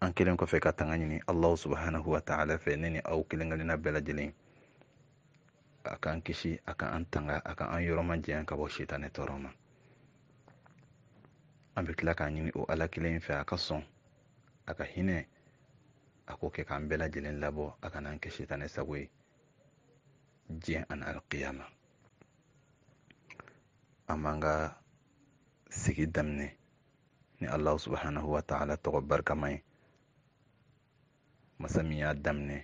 an kɛlen kɔfɛ ka tanga ɲini allahu subhanahu wa taala fɛ ne ni aw kelen kelenna bɛɛ lajɛlen a k'an kisi a ka an tanga a ka an yɔrɔ majanya ka bɔ sitanɛ tɔɔrɔ ma an bɛ tila k'a ɲini o ala kelen fɛ a ka sɔn a ka hinɛ a k'o kɛ k'an bɛɛ lajɛlen labɔ a kana an kɛ sitanɛ sago ye diɲɛ ani alkiyama an b'an ka sigi daminɛ ni allah subhanahu wa taala tɔgɔ barikama ye masa min y'a daminɛ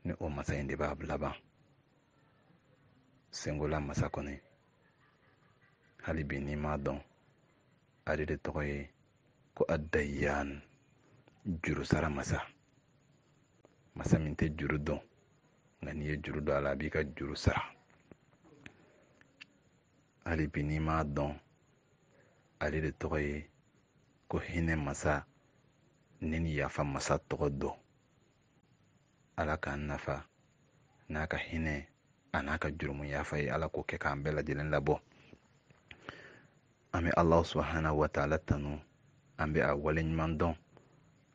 ni o masa in de b'a laban sengola masa kɔni hali bi n'i m'a dɔn ale de tɔgɔ ye ko adayiyan juru sara masa masa min tɛ juru don nka n'i ye juru don a la a b'i ka juru sara hali bi n'i m'a dɔn ale de tɔgɔ ye ko hinɛ masa ni ni yafa masa tɔgɔ don ala k'an nafa n'a ka hinɛ a n'a ka jurumu yafa ye ala k'o kɛ k'an bɛɛ lajɛlen labɔ an bɛ allahu subhanahu wa taala tanu an bɛ a waleɲuman dɔn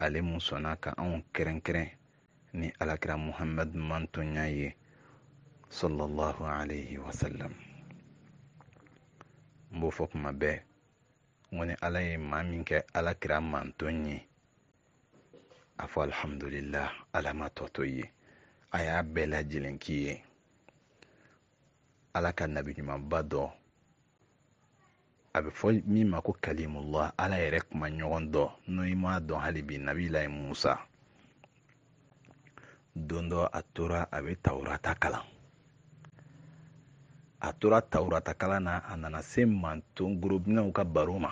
ale min sɔnna ka anw kɛrɛnkɛrɛn ni alakira muhamadu mantonya ye sallallahu alayhi wa sallam n b'o fɔ kuma bɛɛ n ko ni ala ye maa min kɛ alakira manton ye a fɔ alhamdulillah ala ma tɔ to yen a y'a bɛɛ lajɛlen k'i ye ala ka nabi ɲumanba dɔ a bɛ fɔ min ma ko kalimullah ala yɛrɛ kumaɲɔgɔn don n'o i m'a dɔn hali bi nabilayi musa don dɔ a tora a bɛ tawurata kalan a tora tawurata kalan na a nana se manton gorobinɛw ka baro ma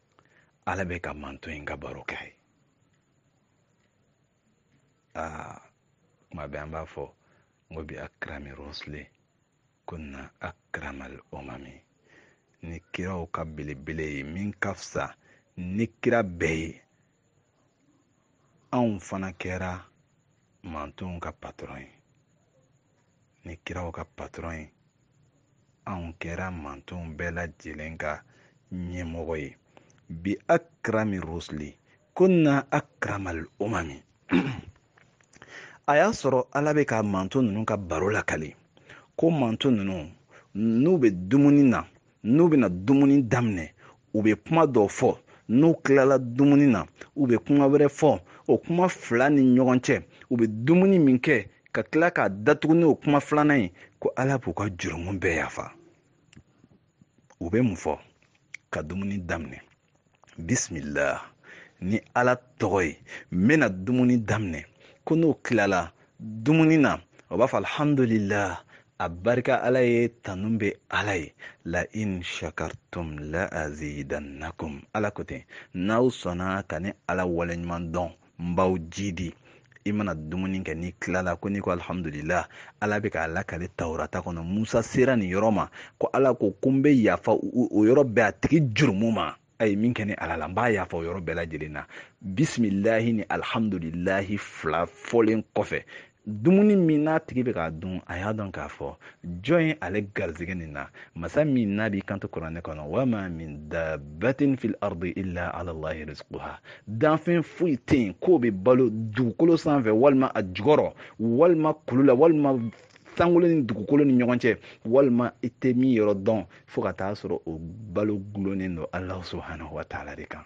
ala bɛ ka manton in ka baro kɛ yen aa kuma bɛɛ an b'a fɔ n ko bi akrami rusli kunna akramal umami ni kiraw ka belebele ye min ka fisa ni kira bɛɛ ye anw fana kɛra mantonw ka patɔrɔn ye ni kiraw ka patɔrɔn ye anw kɛra mantonw bɛɛ lajɛlen ka ɲɛmɔgɔ ye bi akrami rusli kunna akramal umami a y'a sɔrɔ ala bɛ ka manton ninnu ka baro lakali ko manton ninnu n'u bɛ dumuni na n'u bɛna dumuni daminɛ u bɛ kuma dɔ fɔ n'u tilala dumuni na u bɛ kuma wɛrɛ fɔ o kuma fila ni ɲɔgɔn cɛ u bɛ dumuni min kɛ ka tila k'a datugu n'o kuma filanan ye ko ala b'u ka jurumu bɛɛ yafa u bɛ mun fɔ ka dumuni daminɛ bisimila ni ala tɔgɔ ye n bɛna dumuni daminɛ ko n'o tilala dumuni na o b'a fɔ alihamudulila a barika ala ye tanu bɛ ala ye la in shakartum la azidannakum ala ko ten n'aw sɔnna ka ne ala waleɲuman dɔn n b'aw jidi i mana dumuni kɛ n'i tilala ko n'i ko alihamudulila ala bɛ k'a lakale tawurata kɔnɔ musa sera nin yɔrɔ ma ko ala ko ko n bɛ yafa o yɔrɔ bɛɛ a tigi jurumu ma a ye min kɛ ne ala la n b'a yafa o yɔrɔ bɛɛ lajɛlen na bisimilahi ni alihamudulilahi fila fɔlen kɔfɛ dumuni min n'a tigi bɛ k'a dun a y'a dɔn k'a fɔ jɔn ye ale garizigɛ nin na masa min n'a b'i kanto kuranɛ kɔnɔ wama min dabatin fil ardi illa ala allahi rizquha danfɛn foyi tɛ yen k'o bɛ balo dugukolo sanfɛ walima a jukɔrɔ walima kulu la walima sankolo ni dugukolo ni ɲɔgɔn cɛ walima i tɛ min yɔrɔ dɔn fo ka taa sɔrɔ o balo dulonnen don alahu subhanahu wa taala de kan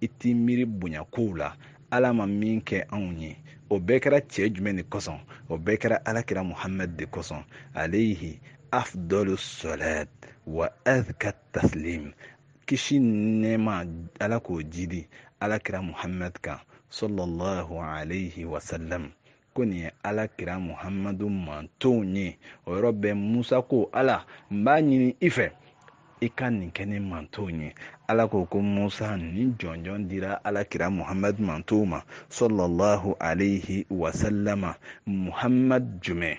i t'i miiri bonya kow la ala ma min kɛ anw ye o bɛɛ kɛra cɛ jumɛn de kosɔn o bɛɛ kɛra alakira muhamad de kosɔn alayhi afdalu salat wa azka taslim kisi nɛɛma ala k'o jidi alakira muhamad kan sallallahu alayhi wasallam ko nin ye ala kira muhamadu mantonw ye o yɔrɔ bɛɛ musa ko ala n b'a ɲini i fɛ i ka nin kɛ ne mantonw ye ala ko ko musa nin jɔnjɔn dira ala kira muhamadu mantonw ma sallallahu alayhi wasallama muhamadu jumɛn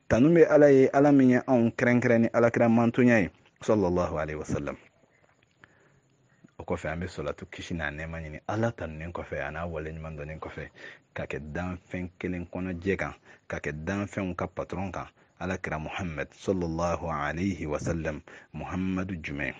tanu bɛ ala ye ala min ye anw kɛrɛnkɛrɛn ni alakira mantonya ye sallallahu alaihi wasallam o kɔfɛ an bɛ sɔlatu kisi n'a nɛɛma ɲini ala tanunen kɔfɛ a n'a waleɲuman dɔnnen kɔfɛ ka kɛ danfɛn kelen kɔnɔ jɛ kan ka kɛ danfɛnw ka patɔrɔn kan ala kira muhamad sallallahu alaihi wasallam muhamadu jumɛn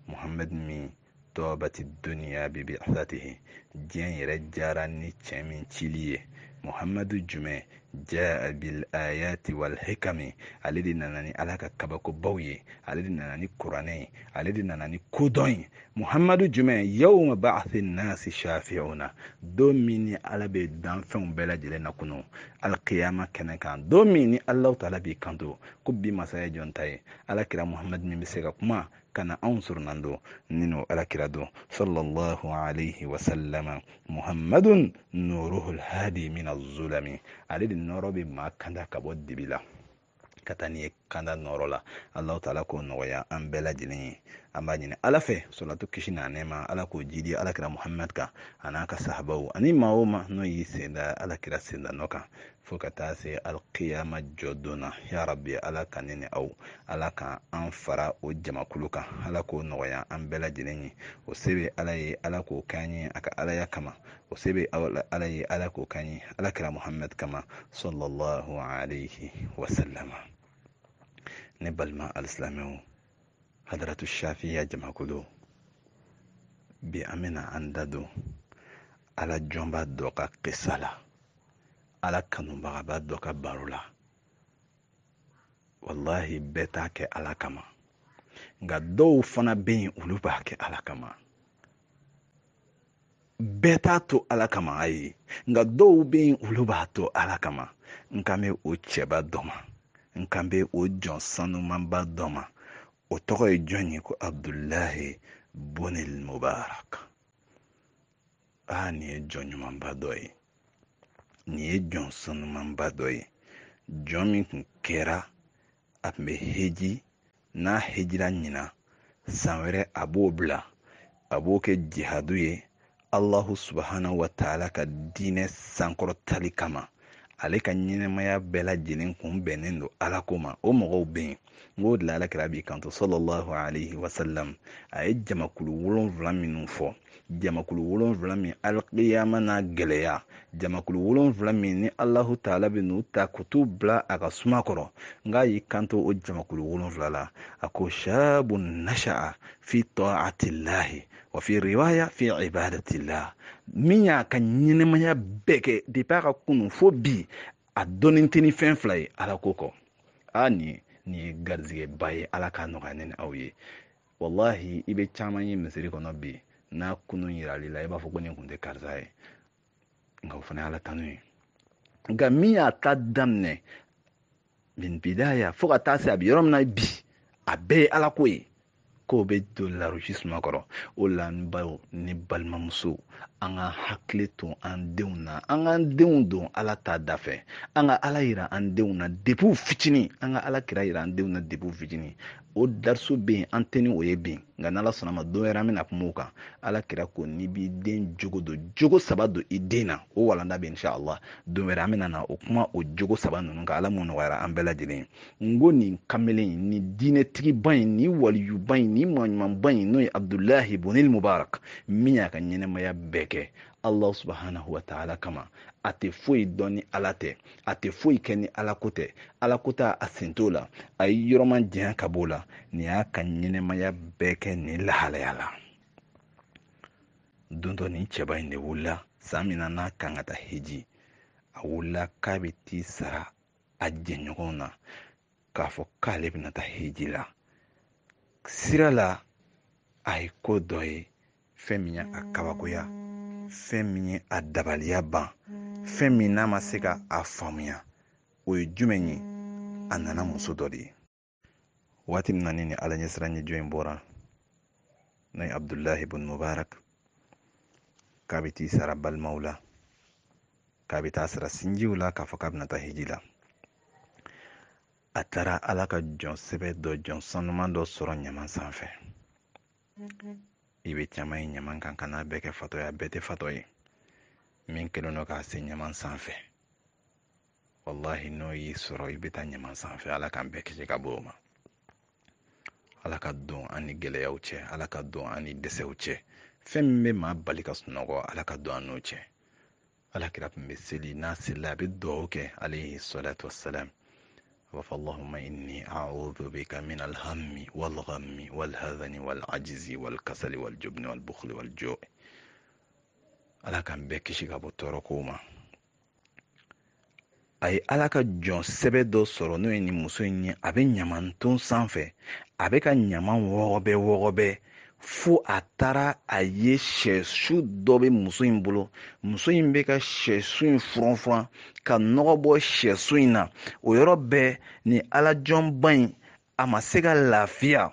muhamad min tɔɔbati duniya bi bi'asatihi diɲɛ yɛrɛ diyara ni cɛ min cili ye muhamadu jumɛn jaa bil ayati wal hikami ale de nana ni ala ka kabakobaw ye ale de nana ni kuranɛ ye ale de nana ni kodɔn ye muhamadu jumɛn yawma ba'athi nasi shafi'una don min ni ala bɛ danfɛnw bɛɛ lajɛlen lakunu alkiyama kɛnɛ kan don min ni allahu taala b'i kanto ko bi masaya jɔn ta ye ala kira muhamadu min bɛ se ka kuma ka na anw soronadon ni n'o alakira don sallallahu alayhi wa sallama muhammadun nuruhul hadi min azulami ale de nɔrɔ bɛ maa kanda ka bɔ dibi la ka taa n'i ye kanda nɔrɔ la alahu taala k'o nɔgɔya an bɛɛ lajɛlen ye an b'a ɲini ala fɛ sɔlatu kisi n'a nɛɛma ala k'o jidi alakira muhamad kan a n'a ka sahabaw ani maa o maa n'o y'i sen da alakira sendanɔ kan fo ka taa se alkiyama jɔ don na ya rabi ala ka ne ni aw ala ka an fara o jamakulu kan ala k'o nɔgɔya an bɛɛ lajɛlen ye o se bɛ ala ye ala k'o k'an ye a ka alaya kama o se bɛ ala ye ala k'o k'an ye ala kira muhammed kama sallallahu alayhi wa sallam ne balima alisilamɛw hadaratu shafiya jamakulu bi an bɛna an da don ala jɔnba dɔ ka kisa la ala kanubagaba dɔ ka baro la walahi bɛɛ t'a kɛ ala kama nka dɔw fana bɛ yen olu b'a kɛ ala kama bɛɛ t'a to ala kama ayi nka dɔw bɛ yen olu b'a to ala kama n kan bɛ o cɛba dɔ ma n kan bɛ o jɔn sanumanba dɔ ma o tɔgɔ ye jɔn ye ko abdulahi bunil mubarak aa nin ye jɔn ɲumanba dɔ ye nin ye jɔn sanumanba dɔ ye jɔn min tun kɛra a tun bɛ heji n'a hejira ɲinan san wɛrɛ a b'o bila a b'o kɛ jihadu ye alahu subahanahu wa taala ka diinɛ sankɔrɔtali kama ale ka ɲɛnamaya bɛɛ lajɛlen kun bɛnnen don ala ko ma o mɔgɔw bɛ yen n k'o de la alakira b'i kanto sallallahu alayhi wa sallam a ye jamakulu wolonwula minnu fɔ jamakulu wolonwula min alikiyama n'a gɛlɛya jamakulu wolonwula min ni alahu taala bɛ n'u ta ka t'u bila a ka suma kɔrɔ n k'a y'i kanto o jamakulu wolonwula la a ko shabu nasha'a fi taatilahi wa fi riwaya fi ibadatillah min y'a ka ɲɛnamaya bɛɛ kɛ depi a ka kunun fo bi a dɔnnen tɛ ni fɛn fila ye ala ko kɔ a nin nin ye garizigɛba ye ala k'a nɔgɔya ne ni aw ye walahi i bɛ caman ye misiri kɔnɔ bi n'a kunun yiral'i la i b'a fɔ ko nin kun tɛ karisa ye nka o fana y'ala tanu ye nka min y'a ta daminɛ min bidaya fo ka taa se a bɛ yɔrɔ min na bi a bɛɛ ye ala ko ye k'o bɛ don larosi suma kɔrɔ o la n baw ni balimamuso an ka hakili to an denw na an k'an denw don ala ta da fɛ an ka ala yira an denw na depi u fitinin an ka ala kira yira an denw na depi u fitinin o dariso bɛ yen an tɛ ni o ye bi nka n'ala sɔnn'a ma don wɛrɛ an bɛna kuma o kan ala kira ko n'i b'i den jogo don jogo saba don i den na o walanda bɛ insha allah don wɛrɛ an bɛna na o kuma o jogo saba ninnu kan ala m'o nɔgɔyara an bɛɛ lajɛlen ye n ko nin kamalen in nin diinɛtigiba in nin waliyuba in nin maaɲumanba in n'o ye abdulahi bunil mubarak min y'a ka ɲɛnamaya bɛɛ kɛ allah subhanahu wa taala kama a tɛ foyi dɔn ni ala tɛ a tɛ foyi kɛ ni alako tɛ alako ta a sen t'o la a y'i yɔrɔ majanya ka b'o la nin y'a ka ɲɛnamaya bɛɛ kɛ nin lahalaya la don dɔ nin cɛba in de wulila san min na n'a kan ka taa heji a wulila k'a bɛ t'i sara a jɛɲɔgɔnw na k'a fɔ k'ale bɛna taa hiji la sira la a ye ko dɔ ye fɛn min ye a kabakoya fɛn min ye a dabaliya ban fɛn min n'a ma se ka a faamuya o ye jumɛn ye a nana muso dɔ de ye waati min na nin ala ɲɛsiranɲɛ jɔn in bɔra n'o ye abudulahi bun mubarak k'a bɛ t'i sara balimaw la k'a bɛ t'a sara sinjiw la k'a fɔ k'a bɛna taa hiji la a taara ala ka jɔn sɛbɛ dɔ jɔn sanuman dɔ sɔrɔ ɲama sanfɛ i bɛ caman ye ɲama kan kan'a bɛɛ kɛ fatɔ ye a bɛɛ tɛ fatɔ ye min kɛlen don k'a se ɲama sanfɛ walahi n'o y'i sɔrɔ i bɛ taa ɲama sanfɛ ala k'an bɛɛ kisi ka bɔ o ma ala ka don an ni gɛlɛyaw cɛ ala ka don an ni dɛsɛw cɛ fɛn min bɛ maa bali ka sunɔgɔ ala ka don an n'o cɛ ala kira tun bɛ seli n'a selila a bɛ dugawu kɛ alayhi salatu wasalam a b'a fɔ allahumma inni a'udhu bika min alhammi walghammi walhazani walajizi walkasali waljubni walbukhli walju'i ala k'an bɛɛ kisi ka bɔ tɔɔrɔ kow ma a ye ala ka jɔn sɛbɛ dɔ sɔrɔ n'o ye nin muso in ye a bɛ ɲaman ton sanfɛ a bɛ ka ɲaman wɔgɔbɛ wɔgɔbɛ fo a taara a ye sɛsu dɔ bɛ muso in bolo muso in bɛ ka sɛsu in furan furan ka nɔgɔ bɔ sɛsu in na o yɔrɔ bɛɛ nin alajɔnba in a ma se ka lafiya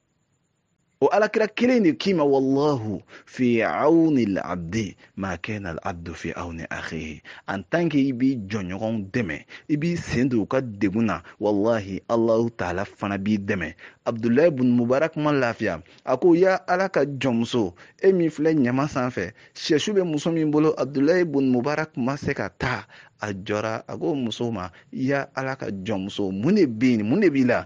o alakira kelen de k'i ma wallahu fi awni labdi ma kana alabdu fi awni akhihi en tant que i b'i jɔnɲɔgɔnw dɛmɛ i b'i sen don u ka degun na wallahi allahu taala fana b'i dɛmɛ abdulayi bun mubarak ma lafiya a ko ya ala ka jɔnmuso e min filɛ ɲama sanfɛ sɛsu bɛ muso min bolo abdulayi bun mubarak ma se ka taa a jɔra a ko muso ma ya ala ka jɔnmuso mun de bɛ yen mun de b'i la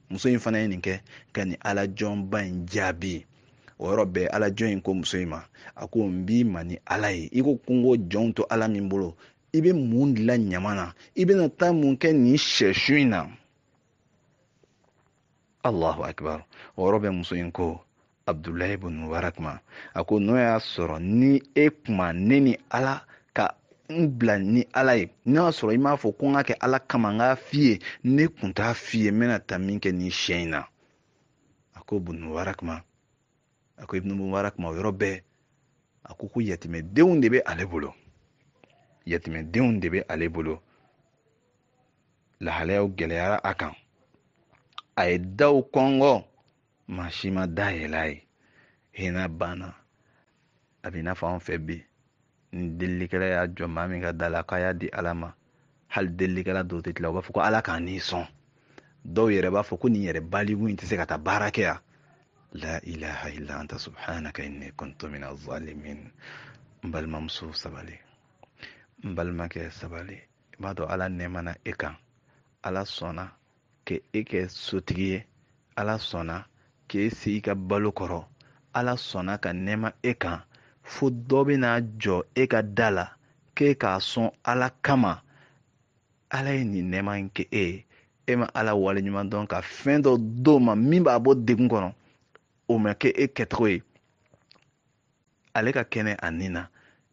muso in fana ye nin kɛ ka nin alajɔnba in jaabi o yɔrɔ bɛɛ alajɔn in ko muso in ma a ko n b'i ma ni ala ye i ko kunko jɔnw to ala min bolo i bɛ mun dilan ɲama na i bɛna taa mun kɛ nin sɛsu in na allahu akibar o yɔrɔ bɛɛ muso in ko abdulahi bun mubarak ma a ko n'o y'a sɔrɔ ni e kun ma ne ni ala ka n bila ni ala ye n'o y'a sɔrɔ i m'a fɔ ko n k'a kɛ ala kama n k'a f'i ye ne kun t'a f'i ye n bɛna taa min kɛ nin sɛ in na a ko bun mubarak ma a ko ibnu mubarak ma o yɔrɔ bɛɛ a ko ko yatimɛdenw de bɛ ale bolo yatimɛdenw de bɛ ale bolo lahalayaw gɛlɛyara a kan a ye daw kɔngɔ maa si ma da yɛlɛ a ye hinɛ banna a bɛ i n'a fɔ anw fɛ bi ni delilikɛla y'a jɔ maa min ka da la k'a y'a di ala ma hali delilikɛla dɔw tɛ tila u b'a fɔ ko ala k'an n'i sɔn dɔw yɛrɛ b'a fɔ ko nin yɛrɛ baliku in tɛ se ka taa baara kɛ yan la ilaha illa anta subhanaka inni kuntu minaz zalimin n balimamuso sabali n balimakɛ sabali i b'a dɔn ala nɛɛma na e kan ala sɔnna ka e kɛ sotigi ye ala sɔnna k'e se i ka balo kɔrɔ ala sɔnna ka nɛɛma e kan fo dɔ bɛna jɔ e ka da la k'e k'a sɔn ala kama ala ye nin nɛɛma in kɛ e ye e ma ala waleɲuman dɔn ka fɛn dɔ d'o ma min b'a bɔ degun kɔnɔ o ma kɛ e kɛcogo ye ale ka kɛnɛya nin na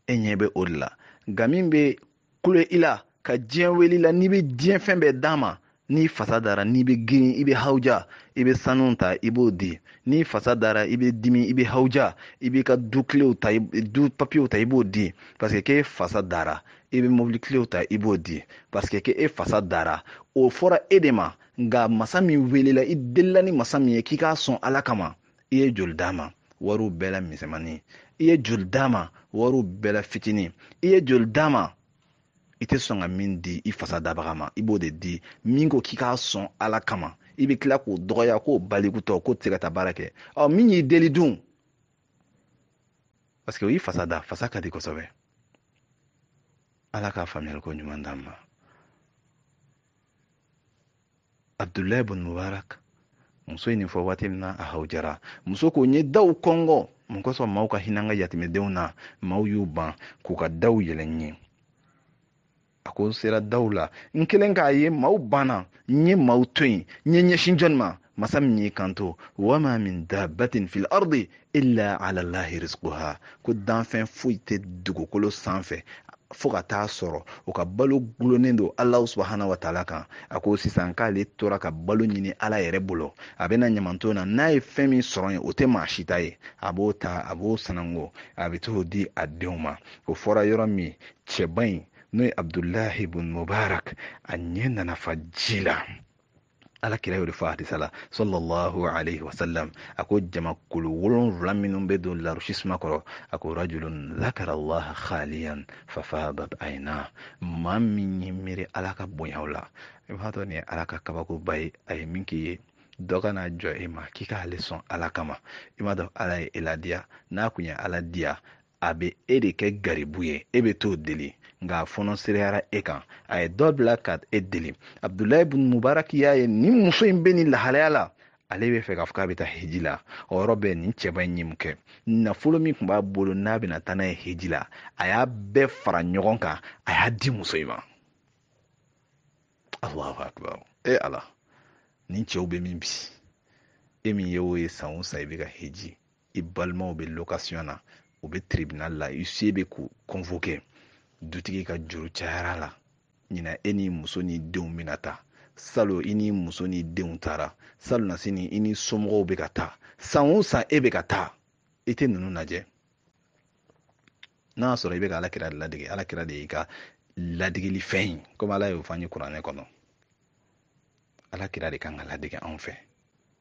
e ɲɛ bɛ o de la nka min bɛ kulo i la ka diɲɛ wele i la n'i bɛ diɲɛ fɛn bɛɛ d'a ma n'i fasa dara n'i bɛ girin i bɛ hawuja i bɛ sanu ta i b'o di n'i fasa dara i bɛ dimi i bɛ hawuja i b'i ka du kilew ta du papiyew ta i b'o di parce que k'e fasa dara i bɛ mobili kilew ta i b'o di parce que k'e fasa dara o fɔra e de ma nka masa min welela i delila ni masa min ye k'i k'a sɔn ala kama i ye joli d'a ma wariw bɛɛ la misɛnmanin i ye joli d'a ma wariw bɛɛ la fitinin i ye joli d'a ma i tɛ sɔn ka min di i fasa dabaga ma i b'o de di min ko k'i k'a sɔn ala kama i bɛ tila k'o dɔgɔya k'o balikutɔ k'o tɛ se ka taa baara kɛ ɔ min y'i deli dun parce que o y'i fasa da fasa ka di kosɛbɛ ala ka faamuyali ko ɲuman d'an ma abdulahi bun mubarak muso ye nin fɔ waati min na a hawujara muso ko n ye daw kɔngɔ mun kosɔn maaw ka hinɛ an ka yatimɛdenw na maaw y'u ban k'u ka daw yɛlɛ n ye a ko n sera daw la n kɛlen k'a ye maaw banna n ye maaw to yen n ye n ɲɛsin jɔni ma masa min y'i kanto wama min dabatin fil ardi illa ala lahi rizquha ko danfɛn foyi tɛ dugukolo sanfɛ fo ka taa sɔrɔ o ka balo gulonnen don ala subahana wa taala kan a ko sisan k'ale tora ka balo ɲini ala yɛrɛ bolo a bɛna ɲamanton na n'a ye fɛn min sɔrɔ yen o tɛ maa si ta ye a b'o ta a b'o sanango a bɛ t'o di a denw ma o fɔra yɔrɔ min cɛba in n'o ye abudulahi bun mubarak a ɲɛ nana fa ji la ala kira y'o de fɔ hadisa la sallallahu alayhi wa sallam a ko jamakulu wolonwula minnu bɛ don larusi suma kɔrɔ a ko rajulun zakara allaha khaliyan fafadat ayna maa min ye miiri ala ka bonyaw la i b'a dɔn nin ye ala ka kabakoba ye a ye min k'i ye dɔ ka na jɔ e ma k'i k'ale sɔn ala kama i m'a dɔn ala ye e ladiya n'a kun ye ala diya a bɛ e de kɛ garibu ye e bɛ t'o deli nka a fɔnɔsereyara e kan a ye dɔ bila ka e deli abudulayi bun mubarak y'a ye nin muso in bɛ nin lahalaya la ale bɛ fɛ k'a fɔ k'a bɛ taa hiji la o yɔrɔ bɛɛ nin cɛba in ye mun kɛ nafolo min tun b'a bolo n'a bɛna taa n'a ye hiji la a y'a bɛɛ fara ɲɔgɔn kan a y'a di muso in ma alahu akibaru e ala nin cɛw bɛ min bi e min ye o ye san o san i bɛ ka hiji i balimaw bɛ lokasiyon na u bɛ tiribinali la huissier bɛ k'u convoquer dutigi ka juru cayara la ɲinan e ni muso ni denw bɛna taa salon i ni muso ni denw taara salonnasini i ni somɔgɔw bɛ ka taa san o san e bɛ ka taa i tɛ ninnu lajɛ n'a y'a sɔrɔ i bɛ ka alakira de ladege alakira de y'i ka ladegeli fɛn ye komi ala y'o fɔ an ye kuranɛ kɔnɔ alakira de kan ka ladege anw fɛ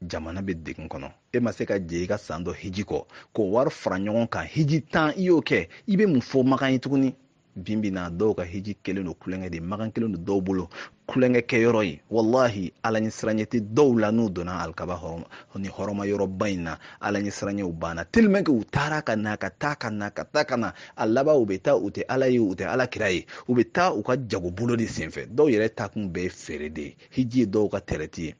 jamana bɛ degun kɔnɔ e ma se ka jɛ i ka san dɔ hiji kɔ k'o wari fara ɲɔgɔn kan hiji tan i y'o kɛ i bɛ mun fɔ makan ye tuguni bi bi in na dɔw ka hiji kɛlen don tulonkɛ ye makan kɛlen don dɔw bolo tulonkɛ kɛ yɔrɔ ye walahi ala ɲɛ siranyɛ tɛ dɔw la n'u donna alikaba hɔrɔma ni hɔrɔma yɔrɔba in na ala ɲɛ siranyɛw banna tellement que u taara ka na ka taa ka na ka taa ka na a laban u bɛ taa u tɛ ala ye u tɛ ala kira ye u bɛ taa u ka jagobolo de senfɛ dɔw yɛrɛ taakun bɛɛ ye feere de ye hiji ye dɔw ka tɛrɛti ye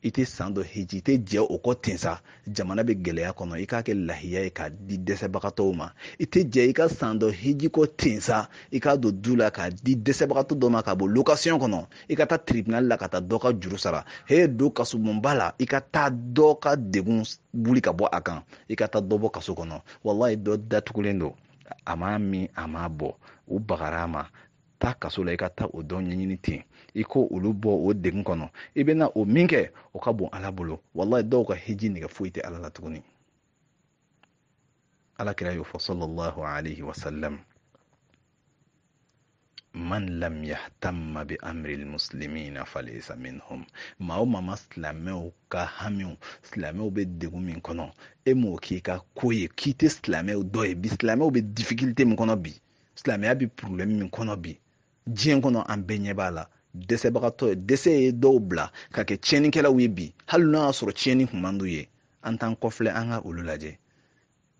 i tɛ san dɔ hiji i tɛ jɛ o kɔ ten sa jamana bɛ gɛlɛya kɔnɔ i k'a kɛ lahiya ye k'a di dɛsɛbagatɔw ma i tɛ jɛ i ka san dɔ hiji kɔ ten sa i k'a don du la k'a di dɛsɛbagatɔ dɔ ma k'a bɔ lokasiyɔn kɔnɔ i ka taa tiribinali la ka taa dɔ ka juru sara he don kasobonba la i ka taa dɔ ka degun wuli ka bɔ a kan i ka taa dɔ bɔ kaso kɔnɔ walayi dɔ datugulen don a m'a min a m'a bɔn u bagara a ma taa kaso la i ka taa o dɔ ɲɛɲini ten i k'olu bɔ o degun kɔnɔ i bɛna o min kɛ o ka bon ala bolo walayi dɔw ka hiji nɛgɛ foyi tɛ ala la tuguni ala kira y'o fɔ sallallahu alaihi wasallam man lam yahtamma bi amri almuslimina falaysa minhum maa o maa ma silamɛw ka hamiw silamɛw bɛ degun min kɔnɔ e m'o k'i ka ko ye k'i tɛ silamɛw dɔ ye bi silamɛw bɛ difikilte min kɔnɔ bi silamɛya bɛ problème min kɔnɔ bi diɲɛ kɔnɔ an bɛɛ ɲɛ b'a la dɛsɛbagatɔya dɛsɛ ye dɔw bila ka kɛ tiɲɛnikɛlaw ye bi hali n'a y'a sɔrɔ tiɲɛni kun man d'u ye an t'an kɔfilɛ an ka olu lajɛ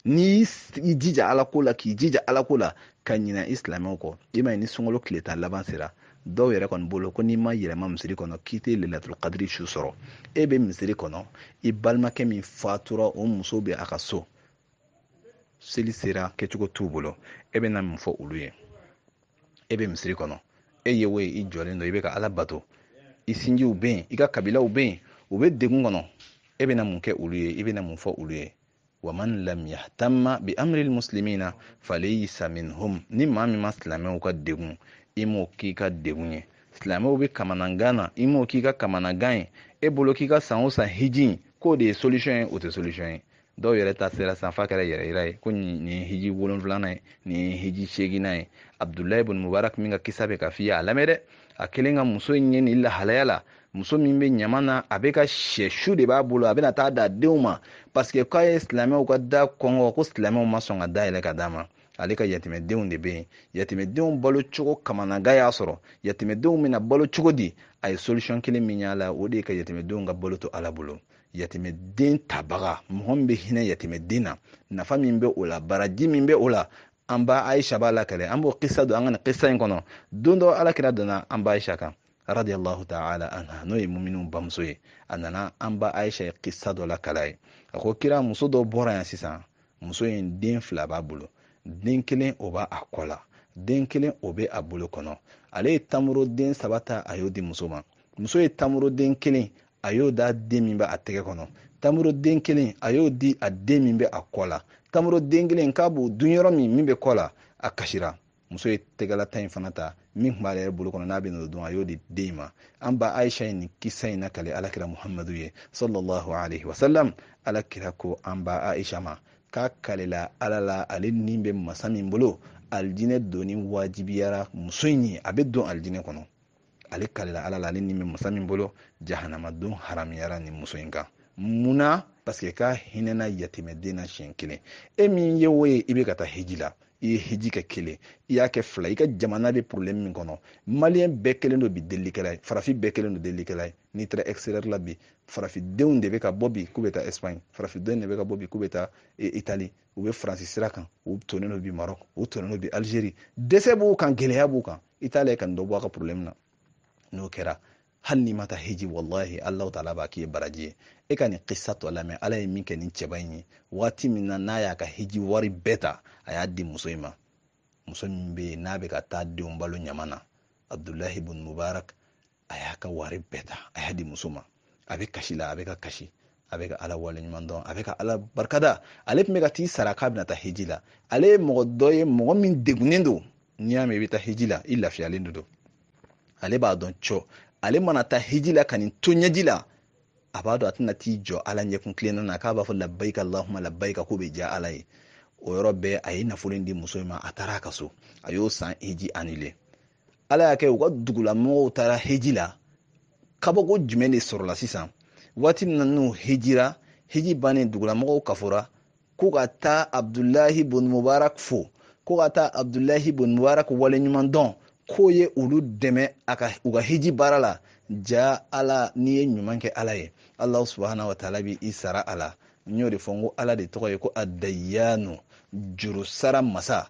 n'i y'i jija ala ko la k'i jija ala ko la ka ɲina i silamɛw kɔ i m'a ye ni sunkalo tile tan laban sera dɔw yɛrɛ kɔni bolo ko n'i ma yɛlɛma misiri kɔnɔ k'i tɛ lelatul kadiri su sɔrɔ e bɛ misiri kɔnɔ i balimakɛ min fatura o muso bɛ a ka so seli sera kɛcogo t'u bolo e bɛ na mun fɔ olu ye e bɛ misiri kɔnɔ e ye o ye i jɔlen don i bɛ ka ala bato i sinjiw bɛ yen i ka kabilaw bɛ yen u bɛ degun kɔnɔ e bɛ na mun kɛ olu ye i bɛ na mun fɔ olu ye wa man lam yahtamma bi amril muslimina falaysa minhum ni maa min ma silamɛw ka degun i m'o k'i ka degun ye silamɛw bɛ kamanagan na i m'o k'i ka kamanagan ye e bolo k'i ka san o san hiji k'o de ye solution ye o tɛ solution ye dɔw yɛrɛ ta sera san f'a kɛra yɛrɛyira ye ko nin ye hiji wolonfilanan ye nin ye hiji seeginnan ye abdulayi bun mubarak min ka kisa bɛ ka f'i ye a lamɛn dɛ a kɛlen ka muso in ye nin lahalaya la muso min bɛ ɲama na a bɛ ka sɛ su de b'a bolo a bɛna taa d'a denw ma paseke k'a ye silamɛw ka da kɔnkɔn ko silamɛw ma sɔn ka da yɛlɛ ka d'a ma ale ka yatimɛdenw de bɛ yen yatimɛdenw balo cogo kamanagan y'a sɔrɔ yatimɛdenw bɛna balo cogo di a ye solution kelen min y'a la o de ye ka yatimɛdenw ka balo to ala bolo yatimɛden tabaga mɔgɔ min bɛ hinɛ yatimɛden na nafa min bɛ o la baraji min bɛ o la an ba aisha b'a lakale an b'o kisa don an ka nin kisa in kɔnɔ don dɔ alakira donna an ba aisha kan radiyallahu ta'ala anha n'o ye muminun bamuso ye a nana an ba aisha ye kisa dɔ lakal'a ye a ko kira muso dɔ bɔra yan sisan muso in den fila b'a bolo den kelen o b'a a kɔ la den kelen o bɛ a bolo kɔnɔ ale ye tamuro den saba ta a y'o di muso ma muso ye tamuro den kelen a y'o d'a den min bɛ a tɛgɛ kɔnɔ tamuro den kelen a y'o di a den min bɛ a kɔ la tamuro den kelen k'a b'o dun yɔrɔ min min bɛ kɔ la a kasira muso ye tɛgɛla ta in fana ta min tun b'ale yɛrɛ bolo kɔnɔ n'a bɛn'o dun a y'o di den ma an ba aisha ye nin kisa in nakale alakira muhamadu ye sallallahu alaihi wasallam alakira ko an ba aisha ma k'a kalela ala la ale ni bɛ masa min bolo alijinɛ donni wajibiyara muso in ye a bɛ don alijinɛ kɔnɔ ale kalila ala la ale ni bɛ masa min bolo jahanama don haramuyara nin muso in kan munna paseke k'a hinɛna yatimɛden na siɲɛ kelen e min ye o ye i bɛ ka taa hiji la i ye hiji kɛ kelen i y'a kɛ fila i ka jamana bɛ problème min kɔnɔ maliyɛn bɛɛ kɛlen don bi delilikɛla ye farafin bɛɛ kɛlen don delilikɛla ye n'i taara extérieur la bi farafindenw de bɛ ka bɔ bi k'u bɛ taa espagne farafindenw de bɛ ka bɔ bi k'u bɛ taa e, italie u bɛ faransi sira kan u tonnen don bi marɔk u tonnen don bi alizeri dɛsɛ b'u kan gɛlɛya b'u kan i t'a la ka nin dɔ bɔ a ka porobilɛmu na n'o kɛra hali n'i ma taa heji walahi alahu taala b'a k'i ye baraji ye e ka nin kisa tɔ lamɛn ala ye min kɛ nin cɛba in ye waati min na n'a y'a ka heji wari bɛɛ ta a y'a di muso in ma muso min bɛ yen n'a bɛ ka taa denw balo ɲama na abdulahi bun mubarak a y'a ka wari bɛɛ ta a y'a di muso ma a bɛ kasi la a bɛ ka kasi a bɛ ka ala wale ɲuman dɔn a bɛ ka ala barika da ale tun bɛ ka t'i sara k'a bɛna taa heji la ale ye mɔgɔ dɔ ye mɔgɔ min degunnen don n'i y'a mɛn i bɛ taa heji la i lafiyalen de don ale b'a dɔn cɔ ale mana taa heji la ka nin to ɲɛji la a b'a dɔn a tɛna t'i jɔ ala ɲɛ kuntilenna na k'a b'a fɔ labayika lahuma labayika k'o bɛ diya ala ye o yɔrɔ bɛɛ a ye nafolo in di muso in ma a taara a ka so a y'o san heji anile ala y'a kɛ u ka dugulamɔgɔw taara heji la kabako jumɛn de sɔrɔla sisan waati min na n'u hejira heji bannen dugulamɔgɔw kafora ko ka taa abdulahi bun mubarak fo ko ka taa abdulahi bun mubarak waleɲuman dɔn k'o ye olu dɛmɛ u ka heji baara la ja ala n'i ye ɲuman kɛ ala ye alahu subahana wa taala b'i sara a la n y'o de fɔ n ko ala de tɔgɔ ye ko adayanu juru sara masa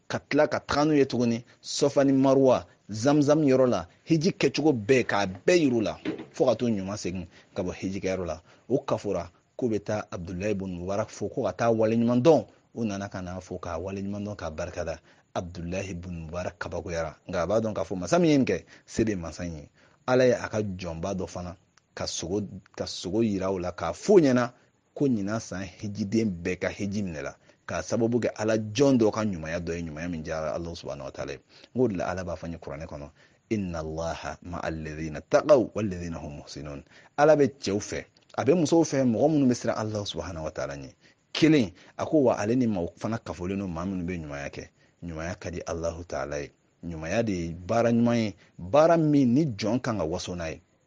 ka tila ka taga n'u ye tuguni sɔfa ni maruwa zamzam yɔrɔ la hiji kɛcogo bɛɛ k'a bɛɛ yir'u la fɔɔ ka t'u ɲuman segin ka bɔ hijikɛyɔrɔ la u kafora k'u bɛ taa abudulayi bun mubarak fo ko ka taa waleɲuman dɔn u nana ka n'a fo k'a waleɲuman dɔn k'a barika da abudulayi bun mubarak kabakoyara nka a b'a dɔn k'a fɔ masa min ye nin kɛ se de masa in ye ala ye a ka jɔnba dɔ fana ka sugo ka sugo yira o la k'a f'o ɲɛna ko ɲinan san hejiden bɛɛ ka heji minɛla k'a sababu kɛ ala jɔn dɔ ka ɲumanya dɔ ye ɲumanya min diyara ala subahana wa taala ye n k'o de la ala b'a fɔ n ye kuranɛ kɔnɔ inna allaha ma alladhina taqaw walladhina hum muhsinun ala bɛ cɛw fɛ a bɛ musow fɛ mɔgɔ minnu bɛ siran ala subahana wa taala ɲɛ kelen a ko wa ale ni maaw fana kafolen don maa minnu bɛ ɲumanya kɛ ɲumanya ka di alahu taala ye ɲumanya de ye baara ɲuman ye baara min ni jɔn kan ka waso n'a ye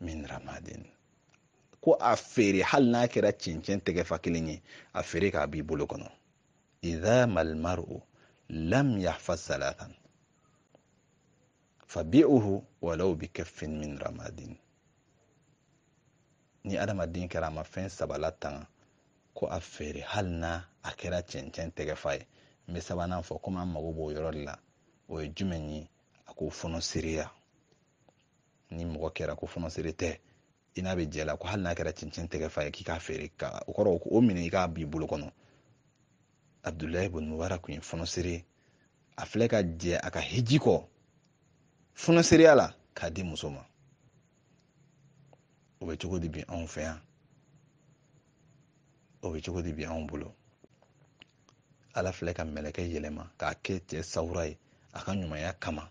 min ramadin ko a feere hali n'a kɛra cɛncɛn tɛgɛfa kelen ye a feere k'a b'i bolo kɔnɔ idha malmaru lam yahfaz thalathan fabi'uhu walau bi kaffin min ramadin ni adamaden kɛra a ma fɛn saba latanga ko a feere hali n'a kɛra cɛncɛn tɛgɛfa ye n bɛ sabanan fɔ komi an mago b'o yɔrɔ de la o ye jumɛn ye a ko fonisireya ni mɔgɔ kɛra ko fɔnɔsere tɛ i n'a bɛ jɛ la ko hali n'a kɛra cɛncɛn tɛgɛ fa ye k'i k'a feere ka o kɔrɔ o minɛ i k'a b'i bolo kɔnɔ abudulayi bun mubarak kun ye fɔnɔsere a filɛ ka jɛ a ka hiji kɔ fɔnɔsereya la k'a di muso ma o bɛ cogo di bi anw fɛ yan o bɛ cogo di bi anw bolo ala filɛ ka mɛlɛkɛ yɛlɛma k'a kɛ cɛ sawura ye a ka ɲumanya kama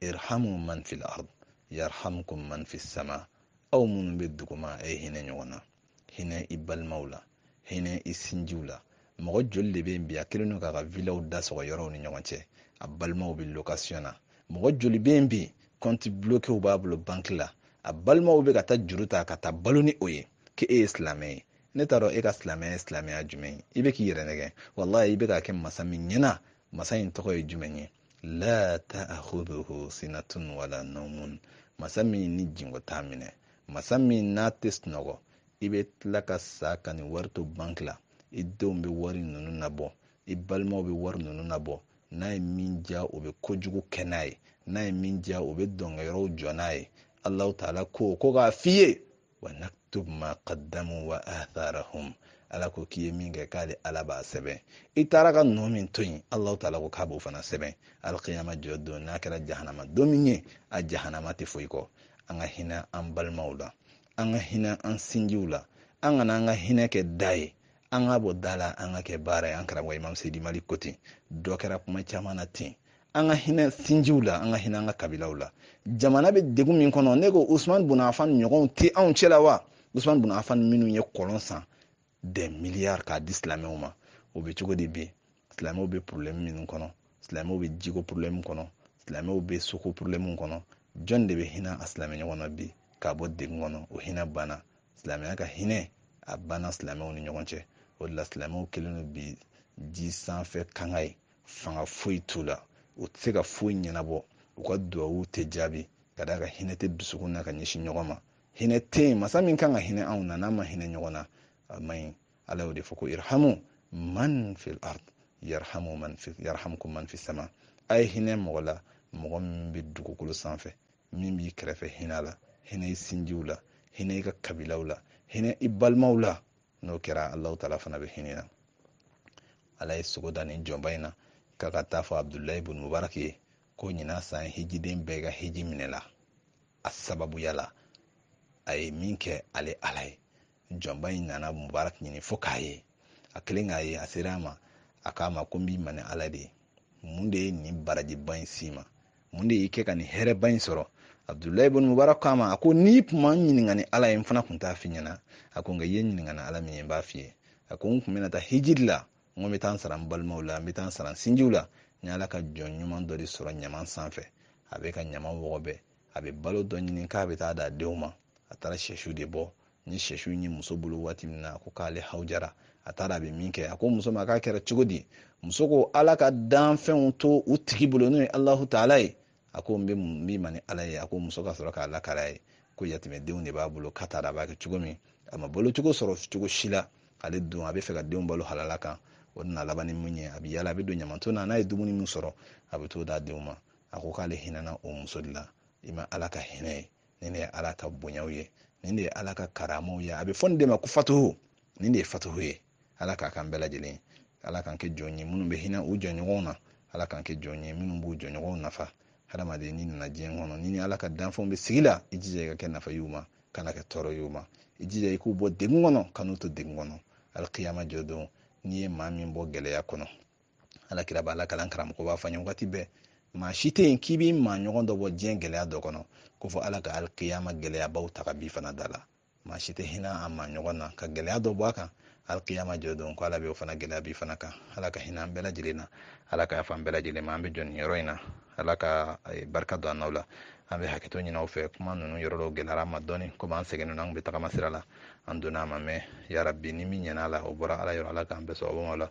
irhamu man fil ard yarhamkum man fis sama aw minnu bɛ duguma a ye hinɛ ɲɔgɔn na hinɛ i balimaw la hinɛ i sinjiw la mɔgɔ joli de bɛ yen bi a kɛlen don k'a ka vilaw da sɔgɔ yɔrɔw ni ɲɔgɔn cɛ a balimaw bɛ location na mɔgɔ joli bɛ yen bi kɔnti blokew b'a bolo banki la a balimaw bɛ ka taa juru ta ka taa balo ni o ye k'e ye silamɛ ye ne t'a dɔn e ka silamɛya ye silamɛya jumɛn ye i bɛ k'i yɛrɛ nɛgɛn walayi i bɛ k'a kɛ masa min ɲɛna masa in tɔgɔ ye jumɛn ye la ta'khudhuhu sinatun wala nawmun masa min ni jingo t'a minɛ masa min n'a tɛ sunɔgɔ i bɛ tila ka sa ka nin wari to banki la i denw bɛ wari ninnu nabɔ i balimaw bɛ wari ninnu nabɔ n'a ye min diya o bɛ kojugu kɛ n'a ye n'a ye min diya o bɛ dɔnkɛ yɔrɔw jɔ n'a ye alahu taala ko ko k'a f'i ye wa naktub ma qaddamu wa atharahum ala ko k'i ye min kɛ k'ale ala b'a sɛbɛn i taara ka nɔ min to yen alahu taala ko k'a b'o fana sɛbɛn alkiyama jɔ don n'a kɛra jahanama don min ye a jahanama tɛ foyi kɔ an ka hinɛ an balimaw la an ka hinɛ an sinjiw la an kana an ka hinɛ kɛ da ye an k'a bɔ da la an k'a kɛ baara ye an karamɔgɔ imam seyidi mali ko ten dɔ kɛra kuma caman na ten an ka hinɛ sinjiw la an ka hinɛ an ka kabilaw la jamana bɛ degun min kɔnɔ ne ko usman bun afan ɲɔgɔnw tɛ anw cɛla wa usman bun afan minnu ye kɔlɔn san des milliards k'a di silamɛw ma o bɛ cogo di bi silamɛw bɛ problème minnu kɔnɔ silamɛw bɛ jiko problème kɔnɔ silamɛw bɛ soko problème kɔnɔ jɔn de bɛ hinɛ a silamɛ ɲɔgɔn na bi k'a bɔ degun kɔnɔ o hinɛ banna silamɛya ka hinɛ a banna silamɛw ni ɲɔgɔn cɛ o de la silamɛw kɛlen don bi ji sanfɛ kanga ye fanga foyi t'u la u tɛ se ka foyi ɲɛnabɔ u ka duwawu tɛ jaabi ka d'a kan hinɛ tɛ dusukun na ka ɲɛsin ɲɔgɔn ma hinɛ tɛ yen masa min kan ka hinɛ anw na n'an ma hinɛ ɲɔgɔn na a man ɲi ala y'o de fɔ ko irhamu man fil ard yarhamkum man fis sama a ye hinɛ mɔgɔ la mɔgɔ min bɛ dugukolo sanfɛ min b'i kɛrɛfɛ hinɛ a la hinɛ i sinjiw la hinɛ i ka kabilaw la hinɛ i balimaw la n'o kɛra alahu taala fana bɛ hinɛ i na ala ye sugo da nin jɔnba in na k'a ka taa fɔ abudulayi bun mubarak ye ko ɲinan san hijiden bɛɛ ka hiji minɛla a sababuya la a ye min kɛ ale ala ye jɔnba in nana mubarak ɲini fo k'a ye a kɛlen k'a ye a sera a ma a k'a ma ko n b'i ma ni ala de ye mun de ye nin barajiba in s'i ma mun de y'i kɛ ka nin hɛrɛba in sɔrɔ abudulayi bun mubarak k'a ma a ko n'i tun ma n ɲininka ni ala ye n fana tun t'a f'i ɲɛ na a ko nka i ye n ɲininka ni ala min ye n b'a f'i ye a ko n tun bɛna taa hijiri la n ko n bɛ taa n sara n balimaw la n bɛ taa n sara n sinjiw la n ye ala ka jɔn ɲuman dɔ de sɔrɔ ɲaman sanfɛ a bɛ ka ɲaman wɔgɔbɛ a bɛ balo dɔ ɲini k'a bɛ taa d'a denw ma a taara sɛsu de bɔ n ye sɛsu ye muso bolo waati min na ko k'ale hawujara a t'a dɔn a bɛ min kɛ a ko muso ma k'a kɛra cogo di muso ko ala ka danfɛnw to u tigi bolo n'o ye alahu taala ye a ko n bɛ n b'i ma ni ala ye a ko muso ka sɔrɔ k'a lakal'a ye ko yatimɛdenw de b'a bolo k'a t'a dɔn a b'a kɛ cogo min a ma balo cogo sɔrɔ cogo si la ale dun a b'a fɛ k'a denw balo halala kan o nana laban ni mun ye a bɛ yala a bɛ don ɲamanton na n'a ye dumuni min sɔrɔ a bɛ t'o d'a denw ma a ko k'ale hinɛna o muso de la i ma ala ka hinɛ ye nin de ye ala ka bonyaw ye nin de ye ala ka karamaw ye a bɛ fɔ nin de ma ko fatuhu nin de ye fatuhu ye ala k'a k'an bɛɛ lajɛlen ala k'an kɛ jɔn ye minnu bɛ hinɛ u jɔnɲɔgɔnw na ala k'an kɛ jɔn ye minnu b'u jɔnɲɔgɔnw nafa hadamaden n'i nana diɲɛ kɔnɔ n'i ni ala ka danfɛnw bɛ sigi la i jija i ka kɛ nafa y'u ma kana kɛ tɔɔrɔ y'u ma i jija i k'u bɔ degun kɔnɔ kan'u to degun kɔnɔ alikiyama jɔ don n'i ye maa min bɔ gɛlɛya kɔnɔ ala kira b'a lakali an karamɔgɔ b'a fɔ an ye wagati bɛɛ maa si tɛ yen k'i b'i maa ɲɔgɔn dɔ bɔ diɲɛ gɛlɛya dɔ kɔnɔ ko fo ala ka alikiyama gɛlɛyabaw ta ka b'i fana da la maa si tɛ hinɛ a maa ɲɔgɔn na ka gɛlɛya dɔ bɔ a kan alikiyama jɔ don ko ala bɛ o fana gɛlɛya b'i fana kan ala ka hinɛ an bɛɛ lajɛlen na ala ka yafa an bɛɛ lajɛlen ma an bɛ jɔ nin yɔrɔ in na ala ka eh, barika don an n'aw la an bɛ hakɛto ɲini aw fɛ kuma ninnu yɔrɔ dɔw gɛlɛyara an ma dɔɔni komi an sɛgɛnnen don an tun bɛ tagama sira la an donna a ma mɛn yarabi ni min ɲɛna a la o bɔra ala yɔrɔ ala k'an bɛɛ sɔrɔ o ma la